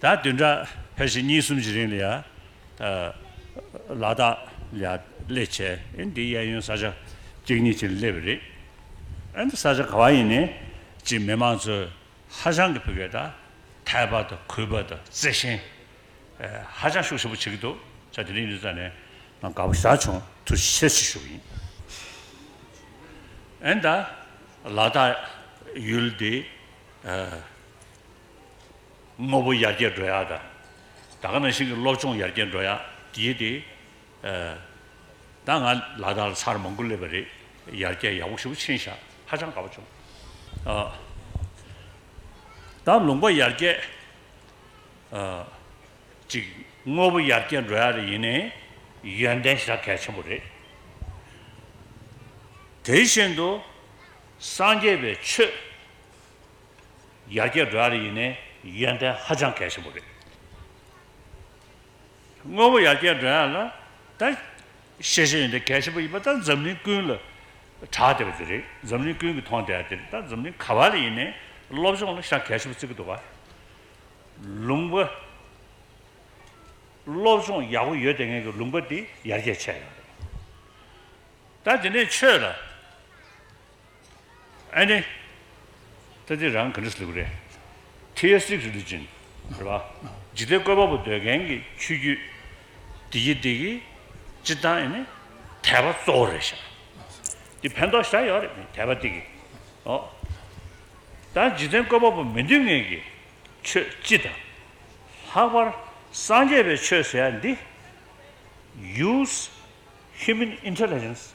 ད་དུས་འདྲ་ཕལ་ཆེར་གཉིས་གསུམ་གྱི་རིང་ལ་ཡར་ལ་དག་ལས་སླེ་བྱས་ཨེ་འདི་གཡས་གཡོན་ས་ཆ་གཅིག་གཉིས་ཅན་སླེ་བས་རེད་ཨེ་འདི་ས་ཆ་ག་བ་ཡིན་ནས་ཅིག་མི་མང་ཚོས་ཧ་ཅང་གི་ཕི་གས་ད་ཐལ་པ་དང་གུས་པ་དང་བརྩེ་ཞེན་ཧ་ཅང་ཤུགས་ཆེན་པོ་བྱེད་ཀྱི་འདུག་ཆ་དེ་རིང་འདི་ཙ་ནས་ང་དགའ་པོ་ཞག་བྱུང་ཐུགས་རྗེ་ཆེ་ཞུ་གི་ཡིན་ཨེ་འདི་ལ་དག་ཡུལ་འདི། དངོས་པོ་ཡར་རྒྱས་འགྲོ་ཡག་དང། ད་ག་ནང་བཞིན་གྱི་སློབ་སྦྱོང་ཡར་རྒྱས་འགྲོ་ཡག་དེའི་དེ། ད་ང་ལ་དྭགས་ལ་ཚར་མང་པོ་སླེབས་པ་རེད། ཡར་རྒྱས་ཡག་པོ་ཞུ་ཆེན་བཞག་ཧ་ཅང་དགའ་པོ་བྱུང། ད་ལུང་པ་ཡར་རྒྱས། གཅིག་དངོས་པོ་ཡར་རྒྱས་འགྲོ་ཡག་རེད་ཡིན་ནའི་ཡོན་ཏན་ཞེ་དྲག་གལ་ཆེན་པོ་རེད། དེ་བཞིན་དུ་སངས་རྒྱས་པའི་ཆོས། ཡར་རྒྱས་འགྲོ་ཡ་རེད་ཡིན་ནའི་ཡོན་ཏན་ཧ་ཅང་གལ་ཆེན་པོ་རེད། དངོས་པོ་ཡར་རྒྱས་འགྲོ་ཡ་ལ་ད་ཤེས་བྱའི་ཡོན་ཏན་གལ་ཆེན་པོ་ཡིན་པ་ད་འཛམ་གླིང་ཀུན་ལ་གྲགས་བསྡད་པ་དེ་རེད། འཛམ་གླིང་ཀུན་གྱི་མཐོང་བསྡད་དེ་རེད་ད་འཛམ་གླིང་ག་བ་ལ་ཡིན་ནའི་སློབ་སྦྱོང་ལ་ཤ་གལ་ཆེན་པོ་བརྩི་གི་འདུག་ག་ལུང་པ་སློབ་སྦྱོང་ཡག་པོ་ཡོད་དེ་ངེད་ཀྱི་ལུང་པ་འདི་ཡར་རྒྱས་ཆེ་ཡོད་རེད། ད་འདི་ནས་ཆོས་ལ། ཨ་ནེ། ད་འདི་རང་ག་འདྲ་ཟེར་གི་རེད། ཁྲི་ཡ་སིག་རི་ལུ་ཅིན། རེད་པ། འཇིག་རྟེན་བཀོད་པ་པོ་འདོད་མཁན་གྱི་ཆོས་བརྒྱུད། འདི་གྱིས་འདི་གིས། སྤྱིར་བཏང་ཨེ་ནི། དད་པ་གཙོ་བོ་རེད་བཞག་ཨ། འདི་ཕན་ཐོག་བཞག་ཡོད་རེད་དད་པ་འདི་གིས། ཨོ། ད་འཇིག་རྟེན་བཀོད་པ་པོ་མི་འདོད་མཁན་གྱི་ཆོས་སྤྱི་དང། ལྷག་པར་སངས་རྒྱས་པའི་ཆོས་ཟེར་ཡ་འདི། ཡུས། Human Intelligence།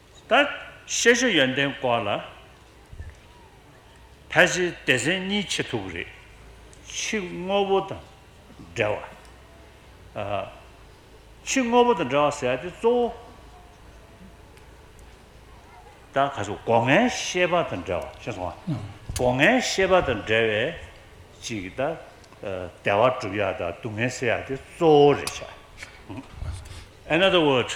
ད་ཤེས་བྱ་ཡོན་ཏན་སྐོར་ལ། ཕལ་ཆེར་སྡེ་ཚན་གཉིས་ཆེ་མཐུག་རེད། ཕྱི་དངོས་པོ་དང་འབྲེལ་བ། ཕྱི་དངོས་པོ་དང་འབྲེལ་བ་ཟེར་བ་དེ་གཙོ་བོ། ད་ག་ཚོད་སྒོ་ངའི་ཤེས་པ་དང་འབྲེལ་བ་ཤེས་སོང་ང། སྒོ་ངའི་ཤེས་པ་དང་འབྲེལ་བའི་ཅིག་ད་བདེ་བ་སྒྲུབ་ཡ་དང་སྡུག་བསྔལ་སེལ་ཡ་དེ་གཙོ་བོ་རེད་བྱ། Another word།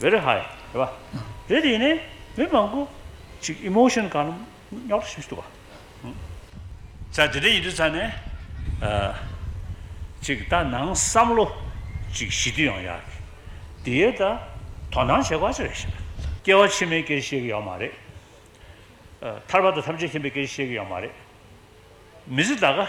Very high རེད་བ། རེད་དེ་ཡིན་ནས་མི་མང་པོ་ཅིག emotion གང་རུང་རྙོག་དྲ་བྱེད་འདུག་བ། ཚ་དེ་འདྲ་ཡིན་དུས་ཚ་ནས་ཅིག་ད་ནང་བསམ་བློ་ཅིག་ཞི་དུས་ཡང་ཡག་གི། དེའི་ད་དོ་སྣང་བྱེད་དགོས་ཅི་རེད་ཞེ་ན། སྐྱེ་བ་ཕྱི་མའི་སྐད་ཤེས་གི་ཡོད་མ་རེད། ཐར་པ་དང་ཐམས་ཅད་མཁྱེན་པའི་སྐད་ཤེས་གི་ཡོད་མ་རེད། མི་ཚེ་ད་ག།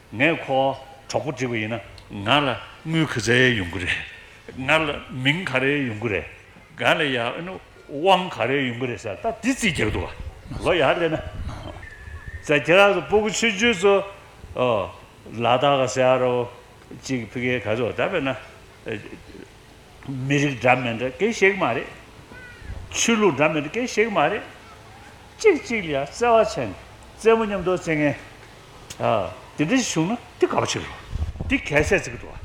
ངས་ཁོ་བོ་གྲོགས་པོ་བསྒྲིགས་པ་ཡིན་ན། ང་ལ་དངུལ་ག་ཚད་ཡོང་གི་རེད། ང་ལ་མིང་ག་རེ་ཡོང་གི་རེད། ང་ལ་ཡ་དབང་ག་རེ་ཡོང་གི་རེད་ཟེར་ད་དེ་རྩིས་རྒྱག་འདུག་ག་ལོ་ཡག་རེད་ན། ཟེར་ཁྱེད་རང་ཚོ་སྤོ་གི་ཆོས་བརྒྱུད་ཚོ། ལ་དྭགས་ག་སེ་ཨ་རོ། གཅིག་ཕི་གེ་ག་ཚོ་ད་བས་ན། མི་རིགས་འདྲ་མིན་འདྲ་སྐད་ཤེས་གི་མ་རེད། ཆོས་ལུགས་འདྲ་མིན་འདྲ་སྐད་ཤེས་གི་མ་རེད། གཅིག་གཅིག་ལ་ཡ་བརྩེ་བ་བྱས་ནས་བརྩེ་མོ་མཉམ་དུ་བརྩེ་ངན། དེ་འདྲ་ཞིག་བྱུང་ན་དེ་ག་པ་ཞིག་རེད། དེ་གལ་སྲིད་ཚིག་འགྲོ་བ་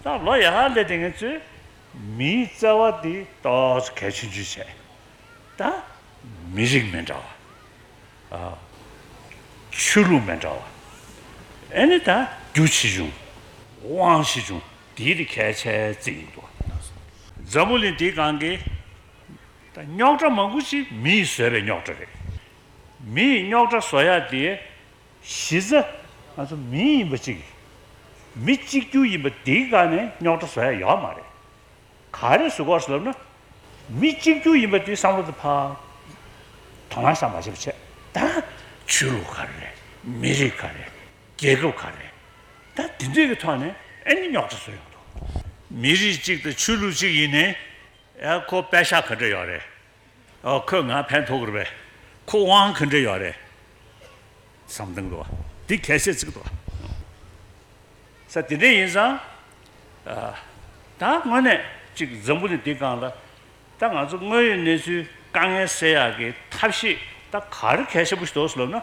དང་ལོ་ཡག་ལས་དེ་ངས་གཙོས། མིའི་བརྩེ་བ་དེ་ཏོག་ཙེ་གལ་ཆེན་བརྗོད་བྱེད་དང། མི་རིགས་མི་འདྲ་བ། ཆོས་ལུགས་མི་འདྲ་བ། ཨེ་ནི་དང་རྒྱུ་ཆེ་ཆུང། དབང་ཆེ་ཆུང་དེའི་དེ་གལ་ཆེ་ཚིག་ཡིན་འདུག། འཛམ་བུ་གླིང་དེའི་སྒང་གི་རྙོག་དྲ་མང་པོ་ཞིག་མིས་བཟོས་པའི་རྙོག་དྲ་རེད། མི་ཡི་རྙོག་དྲ་བཟོ་ཡག་དེ། གཞི་རྩ། ང་ཚོ་མི་ཡིན་པ་གཅིག་ཡིན། མི་གཅིག་གྱུར་ཡིན་པ་དེ་ག་ནས་རྙོག་དྲ་བཟོ་ཡག་ཡོད་མ་རེད། ག་རེ་བཟོ་དགོས་ལབ་ན། མི་གཅིག་གྱུར་ཡིན་པ་དེ་བསམ་བློ་དང་ཕ། དོ་སྣང་ས་མ་བྱེད་པ་བྱེད། ད། ཆོས་ལུགས་ག་རེ་རེད། མི་རིགས་ག་རེ་རེད། རྒྱལ་ཁབ་ག་རེ་རེད། ད་དེ་འདྲའི་གི་ཐོག་ནས་ཨེ་ནི་རྙོག་དྲ་བཟོ་ཡག་འདུག། མི་རིགས་གཅིག་དང་ཆོས་ལུགས་གཅིག་ཡིན་ནས། ཨེ་ཁོ་པད་ཤག་ག་འདྲ་ཡོད་རེད། ཁོས་ང་ཕན་ཐོགས་དགོས་པས་ཁོ་དབང་གིས་འབྲེལ་ཡོད་རེད་བསམ་སྟངས་འདུག་འདི་གལ་ཆེ་གཅིག་འདུག་ས་དེ་འདྲས་ཡིན་ཙང་ད་དངོས་གནས་གཅིག་འཛམ་བུ་ནི་འདི་སྒང་ལ་ད་ང་ཚོ་དངོས་ཡོད་གནས་ཚུལ་དཀའ་ངལ་སེལ་ཡག་གི་ཐབས་ཤེས་ད་ག་རེ་གལ་ཆེན་པོ་ཞིག་འདུག་སེམས་ལབ་ན་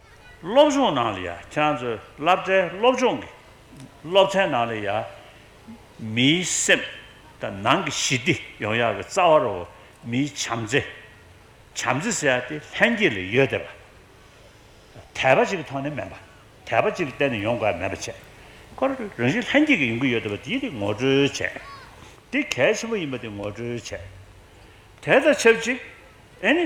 སློབ་སྦྱོང་ནང་ལ་ཡང་ཁྱེད་ཚོའི་བསླབ་གྲྭའི་སློབ་སྦྱོང་གི་སློབ་ཚན་ནང་ལ་ཡང་མིའི་སེམས་དང་ནང་གི་ཞི་བདེ་ཡོང་ཡག་གི་རྩ་བ་རུ་མིའི་བྱམས་བརྩེ། བྱམས་བརྩེ་ཟེར་ཡག་དེ་ལྷན་སྐྱེས་ལས་ཡོད་དེ། དད་པ་གཅིག་གི་ཐོག་ནས་མེད་པ། དད་པ་གཅིག་གི་སྟེང་ནས་ཡོང་དགོས་ཡ་མེད་པ་བྱས་སྐོར་རང་བཞིན་ལྷན་སྐྱེས་ཀྱི་ཡོང་གི་ཡོད་དེ་བ་དེ་དེ་ངོ་སྤྲོད་བྱས། དེ་གལ་ཆེན་པོ་ཡིན་པ་དེ་ངོ་སྤྲོད་བྱས། དེ་དང་ཆབས་ཅིག་ཨེ་ནི།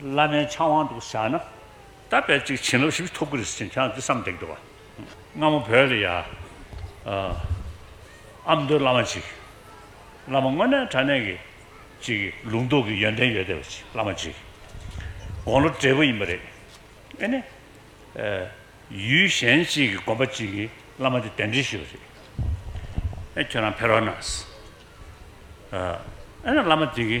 བླ་མའི་ཕྱག་དབང་དུ་བཞག་ན། ད་བལ་ཅིག་བྱིན་རླབས་ཞིབ་ཕྲ་ཐོབ་ཀི་རེད་ཟེར་ཁྱེད་རང་འདི་བསམ་འདེགས་འདུག་བ། སྔ་མོ་བོད་ལ་ཡ། ཨ་མདོའི་བླ་མ་ཅིག། བླ་མ་དངོས་གནས་དྲ་གནས་ཀྱི། ཅིག་ལུང་རྟོགས་ཀྱི་ཡོན་ཏན་ཡོད་བསྡད་པ་ཅིག་བླ་མ་ཅིག། དགོང་ལོ་བགྲེས་པོ་ཡིན་པ་རེད། ཨེ་ནས། ཡུལ་གཞན་ཅིག་གི་དགོན་པ་ཅིག་གི་བླ་མ་དེ་གདན་འདྲེན་ཞུས་པ་རེད། ཨེ་ཁྱོད་རང་ཕེར་བ་ན། ཨེ་ན་བླ་མ་དེ་གི།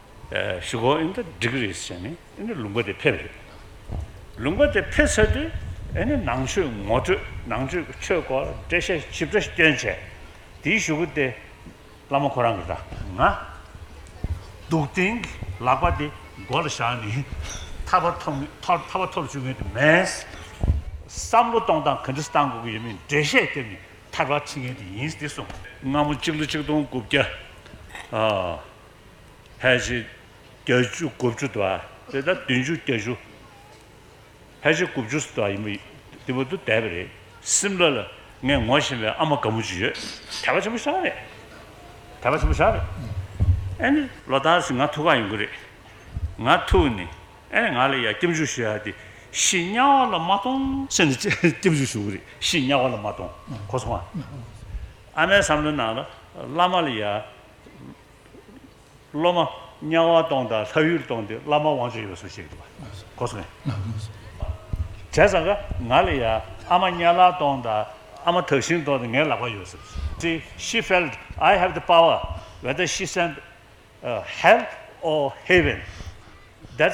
ཞུ་སྒོ་ཨེ་འདྲ་སྒྲིག་རེས་བྱས་ནས་ཨེ་འདྲ་ལུང་པ་དེ་ཕེབས་རེས་དང། ལུང་པ་དེ་ཕེབས་ཚར་དུས་ཨེ་འདྲ་ནང་ཆོས་ངོ་སྤྲོད་ནང་ཆོས་ཀྱི་ཆོས་སྐོར་ལ་འགྲེལ་བཤད་ཞིབ་ཕྲ་བསྐྱོན་བྱས། དེའི་ཞུ་སྒོ་དེ་བླ་མ་ཁོ་རང་གི་ར་ང་འདུག་སྟེང་གི་ལག་པ་དེ་མགོ་ལ་བཞག་ནས་ཐར་པ་ཐོབ་ངེས་ཐར་པ་ཐོབ་བཅུག་ངེས་དེ་མེད། བསམ་བློ་གཏོང་སྟངས་ག་འདྲ་གཏང་དགོས་ཀྱི་ཡོད་མེད་འགྲེལ་བཤད་བསྐྱོན་ནས་ཐར་པ་ཁྲིད་ངེས་དེ་ཡིན་དེ་གསུངས། སྔ་མོ་གཅིག་ལོ་གཅིག་སྟོང་དགུ་བརྒྱ། ཕལ་ཆེར་གྱ་བཅུ་དགུ་བཅུ་དགའ་དེ་ལྟར་བདུན་ཅུ་གྱ་བཅུ། ཕལ་ཆེར་དགུ་བཅུ་དགའ་ཡིན་པ་དེ་བོ་དུ་བསྡད་པ་རེད། སིམ་ལ་ལ་ངས་ངོ་ཤེས་པའི་ཨ་མ་དགའ་མོ་གཅིག་ཡོད། དད་པ་ཆེན་པོ་ཤག་རེད། དད་པ་ཆེན་པོ་ཤག་རེད། ཨེ་ནི་ལོ་ལྟར་བཞིན་ང་ཐུག་ག་ཡོང་གི་རེད། ང་ཐུག་ནི་ཨེ་ནི་ང་ལ་ཡ་སྐྱབས་འཇུག་ཞུ་ཡ་དེ་ཤི་དམྱལ་བ་ལ་མ་གཏོང། ཤི་ནི་སྐྱབས་འཇུག་ཞུ་གི་རེད་ཤི་དམྱལ་བ་ལ་མ་གཏོང་གོ་སོང་ཨ། ཨ་མའི་བསམ་བློའི་ནང་ལ་བླ་མ་ལ་ཡ། སློབ་མ་དམྱལ་བ་སྟོང་དང་ལྷ་ཡུལ་སྟོང་འདི་བླ་མ་དབང་ཆོག་ཡོད་སུ་ཞིག་འདུག་གོ་སོང། བྱས་ཙང་ག་ང་ལ་ཡ་ཨ་མ་དམྱལ་བ་སྟོང་དང་ཨ་མ་ཐགས་ཤིང་སྟོང་འདི་ངའི་ལག་པར་ཡོད་སུ་ཏི་ཤི་ཕེལ་ཨའི་ཧེབ་ཏི་པའོ་ཝེ་ཏི་ཤི་སེན་ཨ་ཧེལ་ཨོ་ཧེ་བེན་དེད་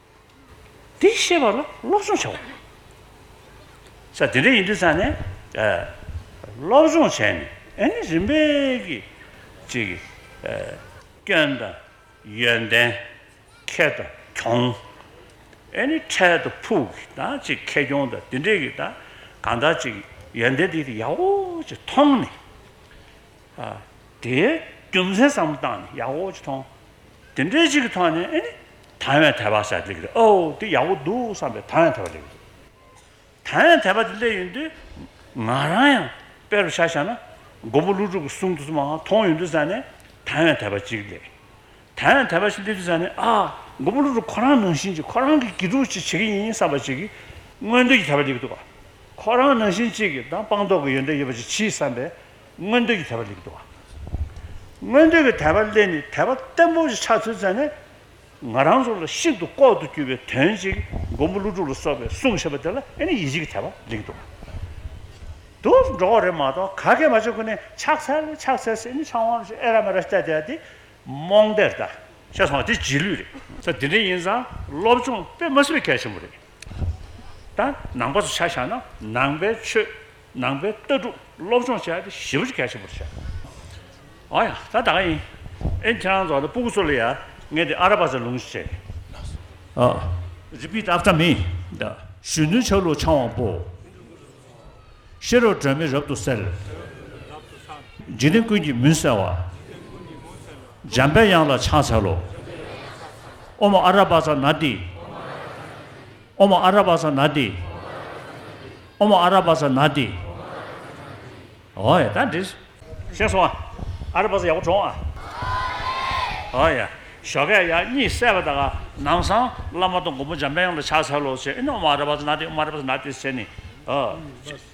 དེ་ཤེས་པ་ལ་སློབ་སྦྱོང་བྱའོ། ས་དེ་འདྲའི་ཡིན་དུས་ཚང་ནས་སློབ་སྦྱོང་བྱས་ནས་ཨེ་ནི་རིམ་པས་ཀྱི་ཅིག་སྐྱོན་དང་ཡོན་ཏན་ཁྱད་དུ་གྱོང། ཨེ་ནི་འཕྲལ་དུ་ཕུག་གི་དང་ཅིག་ཁེ་གྱོང་དང་དེ་འདྲས་ཀྱི་དང་གང་དག་ཅིག་ཡོན་ཏན་དེ་ཡག་པོ་ཅིག་མཐོང་ནས། དེའི་རྒྱུ་མཚན་བསམ་བློ་བཏང་ནས་ཡག་པོ་ཅིག་མཐོང། དེ་འདྲའི་ཅིག་གི་ཐོག་ནས་ཨེ་ནི། དང་བའི་དད་པ་བྱ་རྒྱུ་ལེགས་རེད་ཨོ་དེ་ཡག་པོ་འདུག་བསམ་པའི་དང་བའི་དད་པ་ལེགས་རེད། དང་བའི་དད་པ་དེ་སླེབས་ཡོང་དུས་ང་རང་ཡང་དཔེ་རུ་བྱ་བྱ་ན་མགོན་པོ་ཀླུ་སྒྲུབ་ཀྱི་གསུང་དུ་མ་མཐོང་ཡོང་དུས་ཟེར་ནས་དང་བའི་དད་པ་ཅིག་ལེགས། དང་བའི་དད་པ་ཅིག་སླེབས་དུས་ཟེར་ནས་ཨ། མགོན་པོ་ཀླུ་སྒྲུབ་ཁོ་རང་ནང་བཞིན་ཅིག་ཁོ་རང་གི་དགེ་ཕྲུག་ཅིག་བྱེད་ཀྱི་ཡིན་བསམ་པ་ཅིག་གིས་མངོན་འདོད་ཀྱི་དད་པ་ལེགས་འདུག་ག། ཁོ་རང་ནང་བཞིན་ཅིག་གིས་དང་སྤངས་རྟོགས་ཀྱི་ཡོན་ཏན་ཡོད་པ་ཅིག་གྱིས་བསམ་པའི་མངོན་འདོད་ཀྱི་དད་པ་ལེགས་འགྲོ་བ། མངོན་འདོད་ཀྱི་དད་པ་ལས་ནི་དད་པ་བརྟན་པོ་ཞིག་ཆགས་ཚུལ་བཙལ་ནས། ང་རང་ཚོ་ལ་ཤིན་ཏུ་ལྐོག་ཏུ་གྱུར་པའི་དོན་གཅིག་མགོན་པོ་ཀླུ་སྒྲུབ་ལ་སོགས་པའི་གསུང་བཤད་པ་དེ་ལ་ཡང་ནི་ཡིད་ཆེས་ཀྱི་དད་པ་ལེགས་འགྲོ་བ། དུ་འགྲོ་བ་རེད་མ་གཏོགས་ག་གེ་མ་བྱེད་ཁོ་ནས་ཕྱག་འཚལ་ཕྱག་འཚལ་ཟེར་ནས་ཆང་བ་རེ་ཨེ་ར་མེ་ར་བསྟད་བསྡད་དེ་རྨོངས་དད་ལྟ་བཤད་སོང་བ་དེ་རྗེས་ལུས་རེད། ཚོ་འདི་འདྲ་ཡིན་ཙང་སློབ་སྦྱོང་དཔེ་མ་ཟིན་པའི་གལ་ཆེན་པོ་རེད། ད་ནང་པ་ཚོ་ཆ་བཞག་ན་ནང་པའི་ཆོས་ནང་པའི་ལྟ་གྲུབ་སློབ་སྦྱོང་བྱས་ཏེ་ཞི་བ་ཆེ་གལ་ཆེན་པོར་བྱས། འོ་ཡ། ད་ད་ག་ཡིན། ཨེ་ཁྱེད་རང་ཚོ་འདི་སྤུ་གུ་ཚོ་ལ་ཡ། ངས་འདི་ཨ་ར་པ་ཚོའི་ལུང་བྱེད། Repeat after me། གཞོན་ནུའི་ཆ་ལུགས་འཆང་བ་པོ། ཤེས་རབ་སྒྲོན་མེ་རབ་ཏུ་གསལ། འཇིག་རྟེན་ཀུན་གྱི་མུན་སེལ་བ། འཇམ་པའི་དབྱངས་ལ་ཕྱག་འཚལ་ལོ། ཨོ་མ་ཨ་ར་པ་ཚ་ན་ཏི། ཨོ་མ་ཨ་ར་བ་ས་ན་ཏི། ཨོ་མ་ཨ་ར་བ་ས་ན་ཏི། ཨོ་ཡ་ད་འདྲིས། ཤེས་སོང་ཨ། ཨ་ར་བ་ས་ཡག་པོ་བྲོང་ཨ། ཨོ་ཡ། ཞོ་ཁས་ཡ་གཉིས་བསད་པ་ད་ག་ནང་སང་བླ་མ་དང་མགོན་པོ་འཇམ་དཔལ་ཡོངས་ལ་ཕྱག་འཚལ་ལོ་ཟེར་ཨེ་ནི་ཨོ་མ་ཨ་ར་བ་ས་ན་ཏི་ཨོ་མ་ཨ་ར་བ་ས་ན་ཏི་ཟེར་ནི། ཨོ།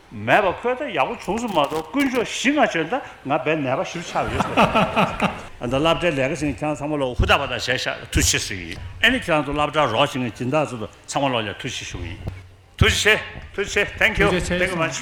མེད་པ་ཁོས་ད་ཡག་པོ་བྱུང་སོང་མ་གཏོགས་དཀོན་མཆོག་བཞི་ལྔ་བྱོན་ད་ང་རྦད་ནད་པ་བཞིར་ཆགས་ཡོད་ཟེར། ཨ་ད་སླབ་གྲྭའི་ལས་ཀ་བྱེད་མཁན་ཁྱེད་རང་ཚང་མ་ལོག་ཧུ་ད་པ་ད་བྱས་ཤག་ཐུགས་ཆེ་ཟིག་ཡིན་ཨེ་ནི་ཁྱེད་རང་ཚོ་སླབ་གྲྭར་རོགས་བྱེད་མཁན་སྦྱིན་བདག་ཚོ་ད་ཚང་མ་ལོག་ཡ་ཐུགས་ཆེ་ཞུ་གི་ཡིན། ཐུགས་རྗེ་ཆེ་ཐུགས་རྗེ་ཆེ Thank you Thank you much།